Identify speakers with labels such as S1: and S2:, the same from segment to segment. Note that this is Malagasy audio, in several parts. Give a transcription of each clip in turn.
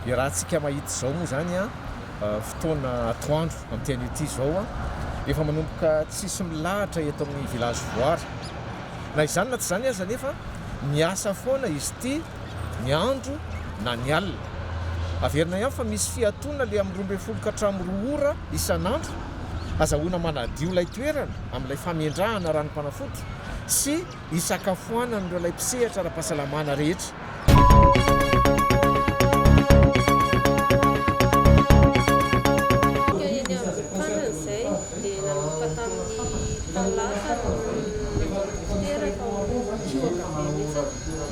S1: Dia raha antsika mahita izao moa izany fotoana atoandro amin'ity anio ity izao an, efa manomboka tsisy milahatra eto amin'ny village voara. Na izany na tsy izany aza anefa miasa foana izy ity ny andro na ny alina. Averina ihany fa misy fiatoana le amin'ny roa ambin'ny folo ka hatramin'ny roa ora isan'andro. Azahoana manadio ilay toerana amin'ilay famendrahana ranom-panafody sy hisakafoanan'ireo ilay mpisehatra ara-pahasalamana rehetra.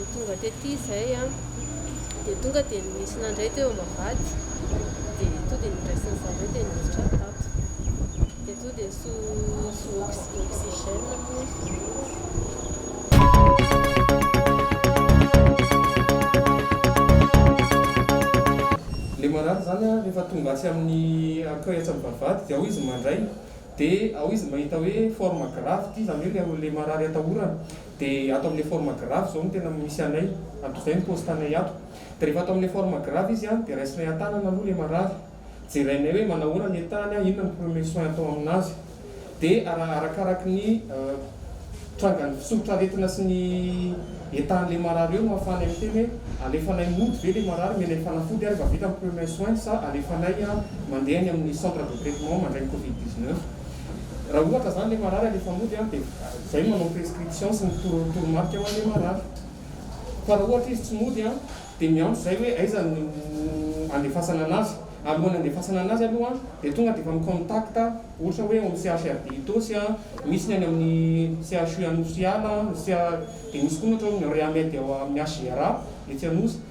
S2: Dia tonga tety izay an, dia tonga dia nisy nandray teo am-bavahady, dia tonga dia noraisiny zareo dia niditra tato, dia tonga dia so so oxygène
S3: Le marary zany an rehefa tonga atsy amin'ny accueil atsy amin'ny vavahady dia ao izy mandray dia ao izy mahita hoe forme grave ity, zany hoe le marary atahorana. De ato amle forme grave zao no tena misy anay, ato zay ny poste anay ato. De rehefa ato amle forme grave izy an, de raisinay antanana aloha le marary, jerainay hoe manahoana ny etany an, inona ny premier soin atao aminazy. De ara arakaraky ny trangan'ny fisoritr aretina sy ny etanle marary eo no afahanay miteny hoe alefanay mody ve le marary, omenay fanafody ary efa vita ny premier soin sa alefanay mandeha any amin'ny centre de traitement mandray ny covid dix neuf. Raha ohatra zany le marary alefa mody an de zay no manao prescription sy mitoro toromarika ho anle marary. Fa raha ohatra izy tsy mody an de miantso zay hoe aiza no andefasana anazy. Alohan'ny andefasana anazy aloha an de tonga de efa mi contact ohatra hoe ao amin'ny CHRD Itaosy an, misy ny any amin'ny CHU Anosiala an, de misy koa ny ohatra hoe Rehamed ao amin'ny HGRA etsy Anosy.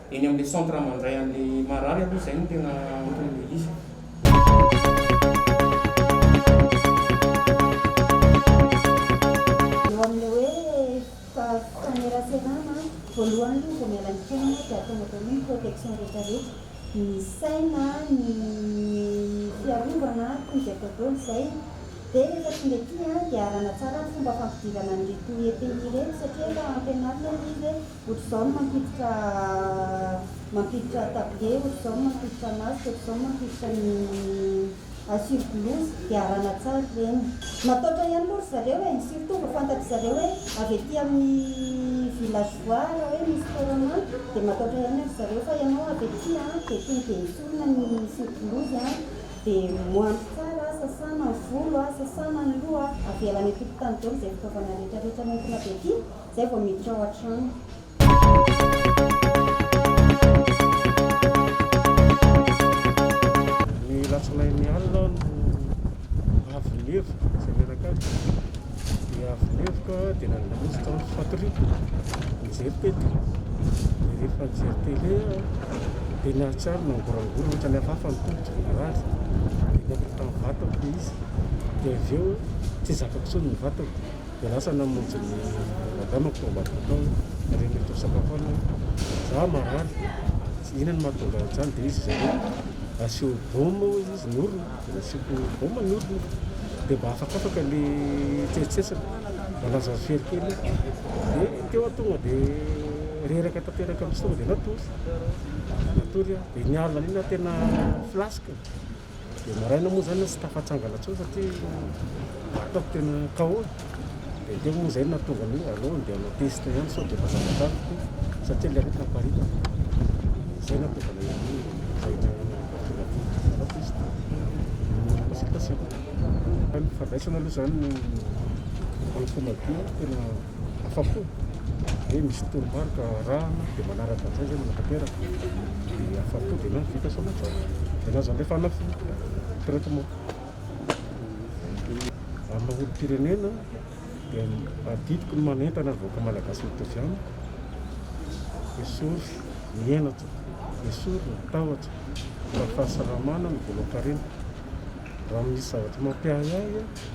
S3: Eny amin'ilay centre mandray an'ilay
S4: marary aloha izay no tena anton'ilay izy. Eo amin'ilay hoe faneran-tsenana an, voalohany aloha vao miala ny fiainana dia ataon'ny atao hoe protection rehetra rehetra, ny saina, ny fiarovana toy izay atao daholo izay, dia rehefa tonga ety an dia arahana tsara ny fomba fampidirana an'ireto EPI ireto satria efa ampianarina ilay izy hoe. Ohatr'izao no mampiditra mampiditra tablier, ohatr'izao no mampiditra masque, ohatr'izao no mampiditra ny à sur blouse, dia arahana tsara ireny. Mataotra ihany moa ry zareo e, surtout vao fantatry zareo hoe avy aty amin'ny villageois raha hoe misy corona dia mataotra ihany ry zareo fa ianao avy aty an, dia tony dia esorina ny sur blouse an, dia moanjo tsara, sasana ny volo, sasana ny loha, avela any an-tokotany daholo izay fitaovana rehetra rehetra nentina avy aty. Zay vao miditra ao an-trano.
S5: Ny alatsinainy alina aho no avy nihevoka izay mianakavy dia avy nihevoka dia nandeha tao amin'ny fatoria nijery tele dia rehefa nijery tele aho dia nahatsiaro nangorangorana ohatran'ny hafahafa ny tongotra narary dia nandritra ny vatako ilay izy dia avy eo tsy zakako intsony ny vatako Miarahasa namonjy ny madamako tao ambadika tao ary mety ho sakafo alina hoe za marary tsy inona no mahatonga an'izany dia izy zareo asio baume hoy izy ny orona dia nasiako baume ny orona dia mba afakafaka ilay tsetsetsiny mba lazao very kely eo dia teo aho tonga dia reraka tanteraka amin'izay tonga dia natory natory aho dia ny alina iny aho tena flasque Dia maraina moa izany aho tsy tafatsangana intsony satria ataoko tena KO. Dia teo moa izay no nahatonga ny hoe aleo andeha hanao test ihany sao dia efa zatra tamiko satria ilay aretina aparitako. Izay no nahatonga anay hoe izay no nahatonga aty hanao test. Consultation. Ny fandraisana aloha izany no fanampina be tena. Afa-po hoe misy toromarika arahana dia manaraka an'izay izay manatanteraka dia afa-po dia na vita sao matsapa dia na zandry fanafody traitement amina olom-pirenena dia adidiko ny manentana ny vahoaka malagasy mitovy amiko esory ny henatra esory ny tahotra mba fahasalamana ny volan-karena raha misy zavatra mampiahiahy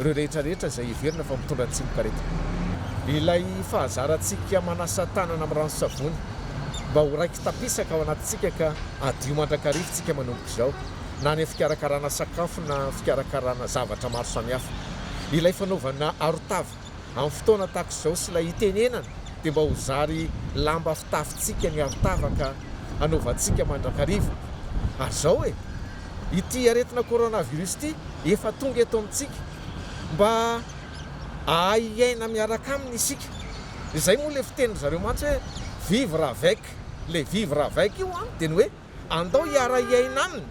S1: ireo rehetra rehetra izay heverina fa mitondra ny tsimok'aretina. Ilay fahazarantsika manasa tanana amin'ny ranon-tsavony mba ho raiki-tapisaka ao anatintsika ka hadio mandrakarivintsika manomboka izao, na any amin'ny fikarakarana sakafo na fikarakarana zavatra maro samihafa. Ilay fanaovana arotava Amin'ny fotoana tahaka izao sy ilay itenenana dia mba ho zary lamba fitafintsika ny arotavaka hanaovantsika mandrakariva. Ary izao e! Ity aretina coronavirus ity efa tonga eto amintsika. Mba hahay hiaina miaraka aminy isika. Izay moa ilay fitenin-dry zareo mantsy hoe vivre avec. Ilay vivre avec io an dia ny hoe. Andao hiara-hiaina aminy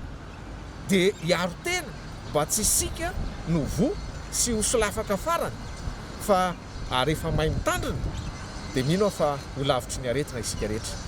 S1: dia hiaro tena mba tsy isika no voa sy ho solafaka farany fa ary efa may mitandrina dia mino aho fa ho lavitry ny aretina isika rehetra.